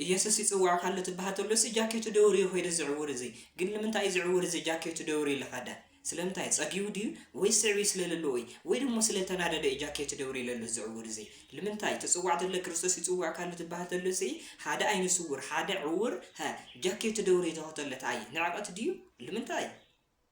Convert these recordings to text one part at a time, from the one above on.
ኢየሱስ ይጽውዕካ ኣሎ ትብሃል ተሎሲ ጃኬቱ ደውርዩ ከይዱ እዚ ዕውር እዚ ግን ንምንታይ እዩ እዚ ዕውር እዚ ጃኬቱ ደውርዩ ለካዳ ስለምንታይ ጸጊቡ ድዩ ወይስ ስዕብዩ ስለ ለለዎ እዩ ወይ ደሞ ስለ ተናደደ እዩ ጃኬቱ ደውርዩ ለሎ እዚ ዕውር እዚ ልምንታይ ትጽዋዕ ተሎ ክርስቶስ ይጽውዕካ ኣሎ ትብሃል ተሎሲ ሓደ ኣይነ ስውር ሓደ ዕውር ሀ ጃኬቱ ደውርዩ ተኸተሎ ተኣይ ንዕቀት ድዩ ልምንታይ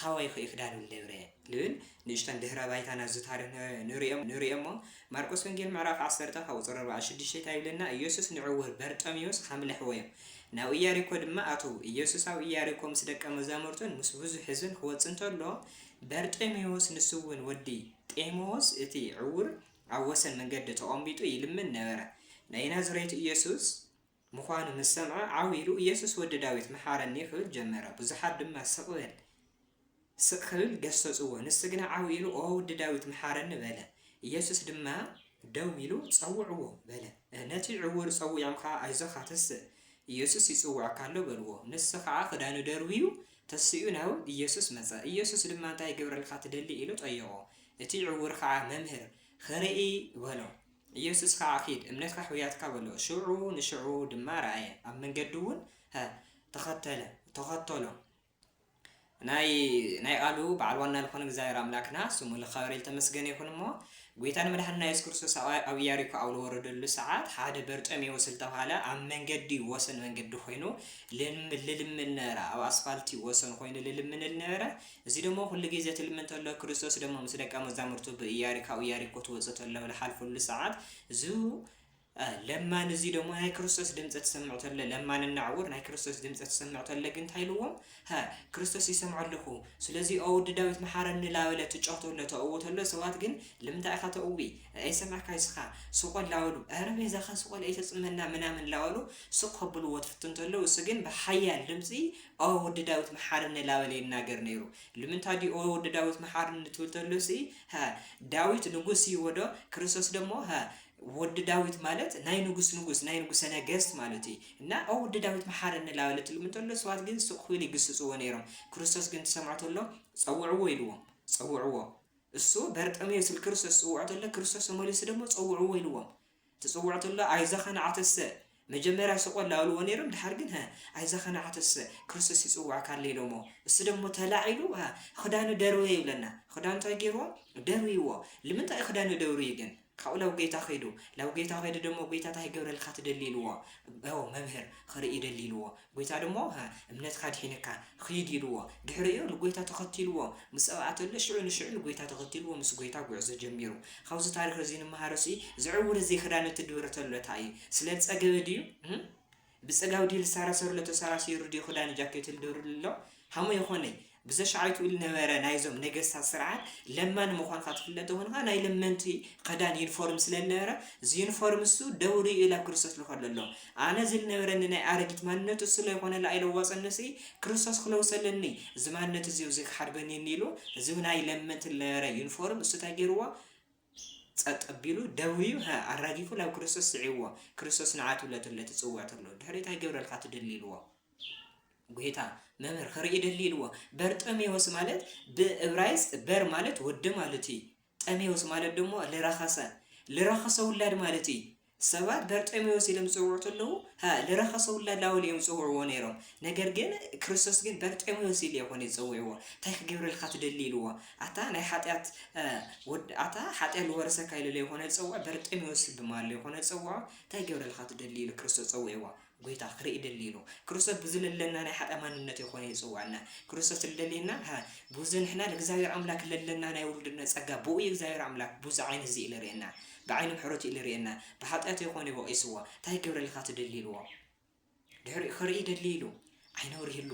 ታዋይኹ ይክዳሉ ደብረ ልብል ንእሽቶን ድህረ ባይታ ናብዚ ታሪኽ ንርኦ እሞ ማርቆስ ወንጌል ምዕራፍ ዓሰርተ ካብ ቁጽሪ ኣርብዓ ሽዱሽተ ታይ ይብለና ኢየሱስ ንዕውር በርጠሚዎስ ሓም ለሕወዮ ናብ ኢያሪኮ ድማ ኣተዉ ኢየሱስ ኣብ ኢያሪኮ ምስ ደቀ መዛሙርቱን ምስ ብዙሕ ሕዝብን ክወጽእ እንተሎ በርጠሚዎስ ንሱውን ወዲ ጤሞዎስ እቲ ዕውር ኣብ ወሰን መንገዲ ተቆምቢጡ ይልምን ነበረ ናይ ናዝሬቱ ኢየሱስ ምዃኑ ምስ ሰምዐ ዓው ኢሉ ኢየሱስ ወዲ ዳዊት መሓረኒ ክብል ጀመረ። ብዙሓት ድማ ስቕ በል ስቕ ክብል ገሰጽዎ። ንሱ ግና ዓው ኢሉ ኦ ውዲ ዳዊት መሓረኒ በለ። ኢየሱስ ድማ ደው ኢሉ ጸውዕዎ በለ። ነቲ ዕውር ጸዊዖም ከኣ ኣይዞኻ ተስእ ኢየሱስ ይጽውዐካ ኣሎ በልዎ። ንሱ ከኣ ክዳኑ ደርብዩ ተሲኡ ናብ ኢየሱስ መጸ። ኢየሱስ ድማ እንታይ ክገብረልካ ትደሊ ኢሉ ጠየቖ። እቲ ዕውር ከኣ መምህር ኽርኢ በሎ። ኢየሱስ ከዓ ኪድ እምነትካ ሕውያትካ በሎ ሽዑ ንሽዑ ድማ ረኣየ ኣብ መንገዱ እውን ተኸተለ ተኸተሎ ናይ ናይ ቃሉ በዓል ዋና ዝኾነ እግዚኣብሔር ኣምላክና ስሙ ልኸበረ ልተመስገነ ይኹን እሞ ጐይታ ንመድሓንና የሱስ ክርስቶስ ኣብ ኢያሪኮ ኣብ ዝወረደሉ ሰዓት ሓደ በርጠሜዎስ ዝተባህለ ኣብ መንገዲ ወሰን መንገዲ ኮይኑ ልልምን ነበረ ኣብ ኣስፋልቲ ወሰን ኮይኑ ልልምን ነበረ እዚ ደሞ ኩሉ ጊዘ ትልሚ እንተሎ ክርስቶስ ደሞ ምስ ደቀ መዛሙርቱ ብእያሪካኡ ያሪኮ ትወጽእ ተሎ ልሓልፍሉ ሰዓት ዙ ለማን እዚ ደሞ ናይ ክርስቶስ ድምፀ ትሰምዕ ተለ ለማን እናዕውር ናይ ክርስቶስ ድምፀ ትሰምዕ ተለ ግን እንታይ ኢልዎም ሃ ክርስቶስ ይሰምዖ ኣለኹ ስለዚ ኣወዲ ዳዊት መሓረኒ ላበለ ትጮህ ተሎ ተእው ተሎ ሰባት ግን ልምንታይ ኢኻ ተእዊ ኣይሰማዕካ ይስኻ ስቆል ላበሉ ኧረ ቤዛኻ ስቆል ኣይተፅመና ምናምን ላበሉ ስቅ ከብልዎ ትፍትን ተሎ እሱ ግን ብሓያል ድምፂ ኦ ወዲ ዳዊት መሓረኒ ላበለ ይናገር ነይሩ ልምንታ ድዩ ኦ ወዲ ዳዊት መሓረኒ ትብል ተሎ ሲ ሀ ዳዊት ንጉስ እዩዎ ዶ ክርስቶስ ደሞ ሀ ወዲ ዳዊት ማለት ናይ ንጉስ ንጉስ ናይ ንጉሰ ነገስት ማለት እዩ እና ኦ ወዲ ዳዊት መሓረኒ ላበለ ትልም እንተሎ ሰባት ግን ሱቅ ክብል ይግስጽዎ ነይሮም ክርስቶስ ግን ትሰምዖ ተሎ ጸውዕዎ ኢልዎም ጸውዕዎ እሱ በርጠሜዎስ ክርስቶስ ጽውዖ ተሎ ክርስቶስ ተመሊሱ ደሞ ጸውዕዎ ኢልዎም ትጽውዖ ተሎ ኣይዛ ከነዓተሰ መጀመርያ ስቆ ላኡልዎ ነይሮም ድሓር ግን ሃ ኣይዛ ከነዓተሰ ክርስቶስ ይጽውዓካ ኣሎ ኢሎሞ እሱ ደሞ ተላዒሉ ሃ ክዳኑ ደርወየ ይብለና ክዳኑ እንታይ ገይርዎ ደርብይዎ ልምንታይ ክዳኑ ደውርዩ ግን ካብኡ ላብ ጎይታ ከይዱ ላብ ጎይታ ከይዱ ደሞ ጎይታ እንታይ ክገብረልካ ትደሊ ኢልዎ ኦ መምህር ክርኢ ደሊ ኢልዎ ጐይታ ድማ እምነትካ ኣድሒነካ፣ ኺድ ኢልዎ። ድሕሪኡ ንጐይታ ተኸቲልዎ ምስ ጸውዓተሉ፣ ሽዑ ንሽዑ ንጐይታ ተኸቲልዎ ምስ ጐይታ ጕዕዞ ጀሚሩ። ኻብዚ ታሪኽ እዚ እንመሃሮሲ፣ እዚ ዕውር እዚ ኽዳኑ እትድርተሉ እታ እዩ። ስለ ዝጸገበ ድዩ? ብጸጋብ ድዩ ልሳራሰረሉ ተሳራሲሩ ድዩ ኽዳኑ ጃኬቱ ልድርብሉ ዘሎ? ሃሞ የኾነይ፣ ብዘሽዓይትኡ ልነበረ ናይዞም ነገስታት ስርዓት ለማኒ ምዃንካ ትፍለጥ ተኾንካ ናይ ለመንቲ ኸዳን፣ ዩኒፎርም፣ ስለ ልነበረ እዚ ዩኒፎርም እሱ ደው ሪኡ ላብ ክርስቶስ ልኸዶ ኣሎ። ኣነ እዚ ልነበረኒ ናይ ኣረጊት ማንነት እሱ ለይኾነ ለኣይለወጸኒ ሲ ክርስቶስ ክለውሰ ኣለኒ እዚ ማንነት እዚ እውዚ ክሓድ በኒኒ ኢሉ እዚ ናይ ለመንቲ ልነበረ ዩኒፎርም እሱ ታይ ገይርዎ ጸጥ ኣቢሉ ደውዩ ሃ ኣራጊፉ ላብ ክርስቶስ ስዒብዎ ክርስቶስ ንዓ ትብሎ ተለ ትጽውዕ ተሎ ድሕሪኡ ታይ ገብረልካ ትደሊ ኢልዎ ጐይታ፣ መምህር ኺርኢ እደሊ ኢልዎ። በርጠሜዎስ ማለት ብእብራይስጥ በር ማለት ወዲ ማለት እዩ። ጠሜዎስ ማለት ደሞ ልረኸሰ ልረኸሰ ውላድ ማለት እዩ። ሰባት በርጠሜዎስ ኢሎም ዝጽውዑ ተለዉ ሃ ልረኸሰ ውላድ ላወሉ እዮም ዝጽውዕዎ ነይሮም። ነገር ግን ክርስቶስ ግን በርጠሜዎስ ኢሉ ኣይኮነ ዝጸውዕዎ። እንታይ ክገብረልካ ትደሊ ኢልዎ። ኣታ ናይ ሓጢኣት ወድ ኣታ ሓጢኣት ዝወረሰካ ኢሉ ለይኮነ ዝጸውዖ በርጠሜዎስ ብማሉ ይኮነ ዝጸውዖ እንታይ ክገብረልካ ትደሊ ኢሉ ክርስቶስ ጸውዕዎ። ጎይታ ክርኢ ደልዩ ኢሉ ክርስቶስ ብዝለለና ናይ ሓጥኣ ማንነቱ ይኮነ ይጽውዐና ክርስቶስ ልደልየና ሃ ቡዝ ንሕና ልእግዚኣብሔር ኣምላክ ለለና ናይ ውሉድነት ጸጋ ብኡ እዩ እግዚኣብሔር ኣምላክ ቡዝ ዓይኒ ህዝቢ እዩ ልርእየና ብዓይኒ ምሕረቱ እዩ ልርእየና ብሓጥያቱ ይኮነ እዩ ወቂስዎ ታይ ክገብረልካ ትደሊ ኢልዎ ድሕሪኡ ክርኢ ደልዩ ኢሉ ዓይኒ ኣብሪህሉ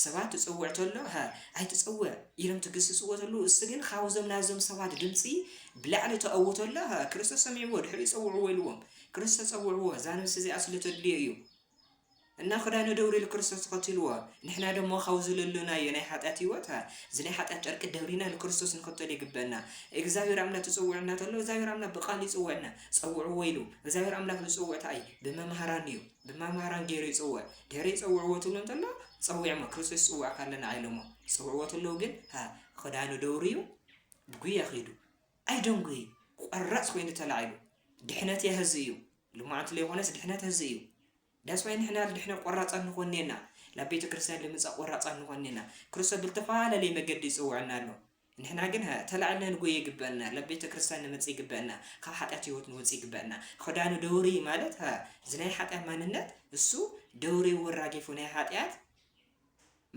ሰባት ትጽውዕ ተሎ እህ ኣይትጽውዕ ኢሎም ትግስጽዎ ተለዉ እሱ ግን ኻብዞም ናዞም ሰባት ድምጺ ብላዕሊ ተእዉ ተሎ እህ ክርስቶስ ሰሚዕዎ ድሕሪኡ ጸውዕዎ ኢልዎም ክርስቶስ ጸውዕዎ እዛ ነብሲ እዚኣ ስለ ተድልዮ እዩ እና ክዳኑ ደውሪ ኢሉ ክርስቶስ ተኸትልዎ ንሕና ደሞ ኻብ ዝለሎናዮ ናይ ሓጢኣት ህይወት እህ እዚ ናይ ሓጢኣት ጨርቂ ደብሪና ንክርስቶስ ንኸተሉ ይግበና እግዚኣብሔር ኣምላኽ ትጽውዕና ተሎ እግዚኣብሔር ኣምላኽ ብቃሉ ይጽውዕና ጸውዕዎ ኢሉ እግዚኣብሔር ኣምላኽ ዝጽውዕ ተኣይ ብመምሃራን እዩ ድማ ማራን ገይሩ ይጽውዕ ድሕሪ ይጸውዕዎ ትብሎ እንተሎ ጸዊዕሞ ክርስቶስ ይጽውዕካ ኣለና ኢሎሞ ጸውዕዎ ተለዉ ግን ሃ ክዳኑ ደውርዩ ብጉያ ኺዱ ኣይደንጉይ ቆራጽ ኮይኑ ተላዒሉ ድሕነት እያ ህዚ እዩ ልማዕንቲ ለይኮነስ ድሕነት ህዚ እዩ ዳስዋይ ንሕና ልድሕነ ቆራጻት ንኾን ኔና ናብ ቤተ ክርስቲያን ልምጻእ ቆራጻት ንኾን ኔና ክርስቶስ ብልተፈላለየ መገዲ ይጽውዕና ኣሎ ንሕና ግና ተላዒልና ንጎይ ይግበእና ላብ ቤተ ክርስትያን ንመጽእ ይግበእና ካብ ሓጢኣት ህይወት ንወጽእ ይግበእና ኽዳኑ ደውርይ ማለት እዚ ናይ ሓጢኣት ማንነት እሱ ደውርይ ወራጊፉ ናይ ሓጢኣት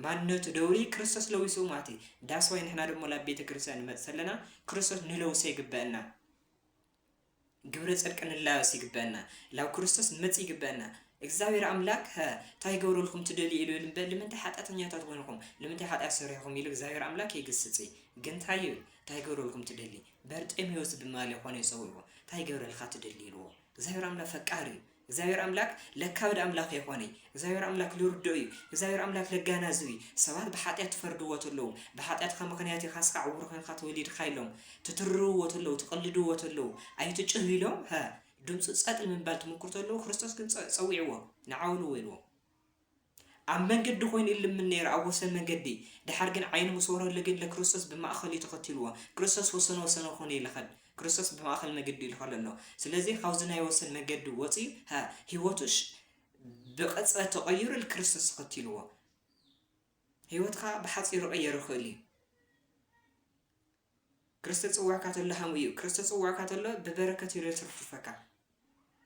ማንነቱ ደውርይ ክርስቶስ ለዊሱ ማለት እዩ ዳስዋይ ንሕና ደሞ ላብ ቤተ ክርስትያን ንመጽእ ተለና ክርስቶስ ንለውሶ ይግበእና ግብረ ጽድቂ ንላበስ ይግበእና ላብ ክርስቶስ ንመጽእ ይግበእና እግዝኣብሔር ኣምላክ ከ ታይ ክገብረልኩም ትደልዩ ኢሉ እልምበ ልምንታይ ሓጥያተኛታት ኮይንኩም ልምንታይ ሓጥያት ሰሪሕኩም ኢሉ እግዝኣብሔር ኣምላክ የግስጽ ግን ታይ እዩ ታይ ክገብረልኩም ትደሊ በርጤሜዎስ ድማለ ኮነ ጸዊእዎ ታይ ክገብረልካ ትደሊ ኢልዎ እግዝኣብሔር ኣምላክ ፈቃር እዩ እግዚኣብሔር ኣምላክ ለካ ወድ ኣምላክ የኮነ እዩ እግዚኣብሔር ኣምላክ ልርድኦ እዩ እግዚኣብሔር ኣምላክ ለጋናዝብ እዩ ሰባት ብሓጥያት ትፈርድዎ ተለዉ ብሓጥያትካ ምክንያት ኢካ እስካ ዕውር ኮንካ ተወሊድካ ኢሎም ትትርርዎ ተለዉ ትቅልድዎ ተለዉ ኣይትጭህ ኢሎም ድምፁ ፀጥ ንምባል ትምኩር ተለዉ ክርስቶስ ግን ፀዊዕዎ ንዓውልዎ ኢልዎም ኣብ መንገዲ ኮይኑ ይልምን ነይሩ ኣብ ወሰን መንገዲ ደሓር ግን ዓይኑ ምስ ወረሉ ግን ለክርስቶስ ብማእከል እዩ ተኸቲልዎ ክርስቶስ ወሰን ወሰን ኾኑ እዩ ለኸድ ክርስቶስ ብማእኸል መገዲ እዩ ልኸድ ኣሎ ስለዚ ኻብዚ ናይ ወሰን መገዲ ወጽዩ ሃ ህይወቱ ብቕጽበት ተቐይሩ ልክርስቶስ ተኸቲልዎ ህይወትካ ብሓጺሩ ቐየር ይኽእል እዩ ክርስተ ጽውዕካ ተሎ ሃም እዩ ክርስተ ጽውዕካ ተሎ ብበረከት እዩ ለትርፍፈካ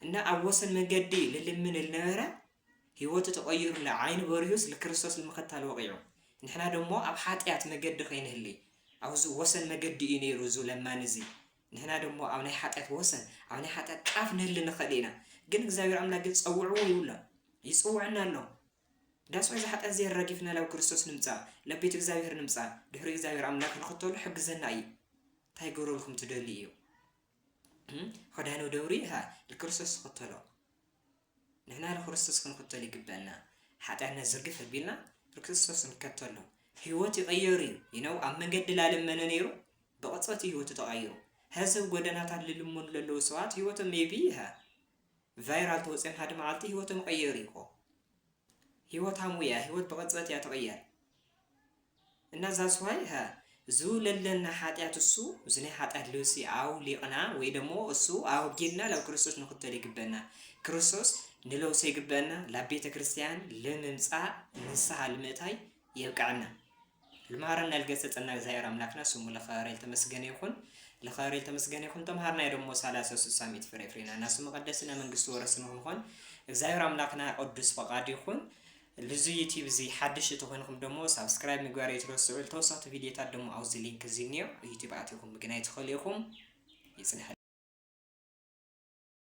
እና ኣብ ወሰን መንገዲ ልልምን ልነበረ ህይወቱ ተቐይሩ ለዓይኑ በሪሁስ ልክርስቶስ ልምኸታል ወቂዑ ንሕና ደሞ ኣብ ሓጢኣት መገዲ ከይንህሊ ኣብዚ ወሰን መገዲ እዩ ነይሩ እዙ ለማን እዚ ንሕና ደሞ ኣብ ናይ ሓጢኣት ወሰን ኣብ ናይ ሓጢኣት ጫፍ ንህሊ ንኽእል ኢና ግን እግዚኣብሔር ኣምላክ ግን ጸውዕዎ ይብሎ ይጽውዕና ኣሎ ዳስዑ ዝሓጥያት ዜር ረጊፍና ላብ ክርስቶስ ንምጻእ ላብ ቤት እግዚኣብሔር ንምጻእ ድሕሪኡ እግዚኣብሔር ኣምላክ ንክተሎ ሕግዘና እዩ ታይ ክገብረልኩም ትደልዩ እዩ ኸዳኑ ደውሪ ሃ ልክርስቶስ ዝክተሎ ንሕና ንክርስቶስ ክንክተል ይግበና ሓጢኣትና ዝርግፍ ኣቢልና ንክርስቶስ ንከተሎ ህይወት ይቀየሩ እዩ ይነው ኣብ መንገዲ ላለመነ ነይሩ ብቕፅበት ህይወቱ ተቐይሩ ሀዚ ጎደናታት ልልሙን ለለዉ ሰባት ህይወቶም ሜቢ ይሃ ቫይራል ተወጺኦም ሓደ መዓልቲ ሂወቶም ይቐየር እዩ እኮ ሂወት ሃሙ እያ ሂወት ብቕጽበት እያ ትቕየር እና ዛስ ዋይ ሃ ዝውለለና ሓጢኣት እሱ እዚ ናይ ሓጢኣት ልብሲ ኣውሊቕና ወይ ደሞ እሱ ኣወጊድና ናብ ክርስቶስ ንኽተል ይግበና ክርስቶስ ንለውሶ ይግበና ላብ ቤተ ክርስቲያን ልምምጻእ ንስሓ ልምእታይ የብቀዐና ልማሃረና ልገሰጸና እግዝኣብሔር ኣምላክና ስሙ ለከበረ ልተመስገነ ይኩን ለከበረ ልተመስገነ ይኩን ተምሃርና ደሞ ሳላሰ ስሳ ሚእቲ ፍሬ ፍሬና ናሱ መቀደስ ና መንግስቲ ወረስ ንክንኮን እግዚኣብሔር ኣምላክና ቅዱስ ፈቃድ ይኩን ልዙ ዩቲብ እዚ ሓድሽ ተኾይንኹም ደሞ ሳብስክራይብ ምግባር የትረስዑ ተወሰኽቲ ቪድዮታት ደሞ ኣብዚ ሊንክ እዚ እኒኦ ዩቲብ ኣትኹም ምግናይ ትኽእሉ ኢኹም ይፅንሐ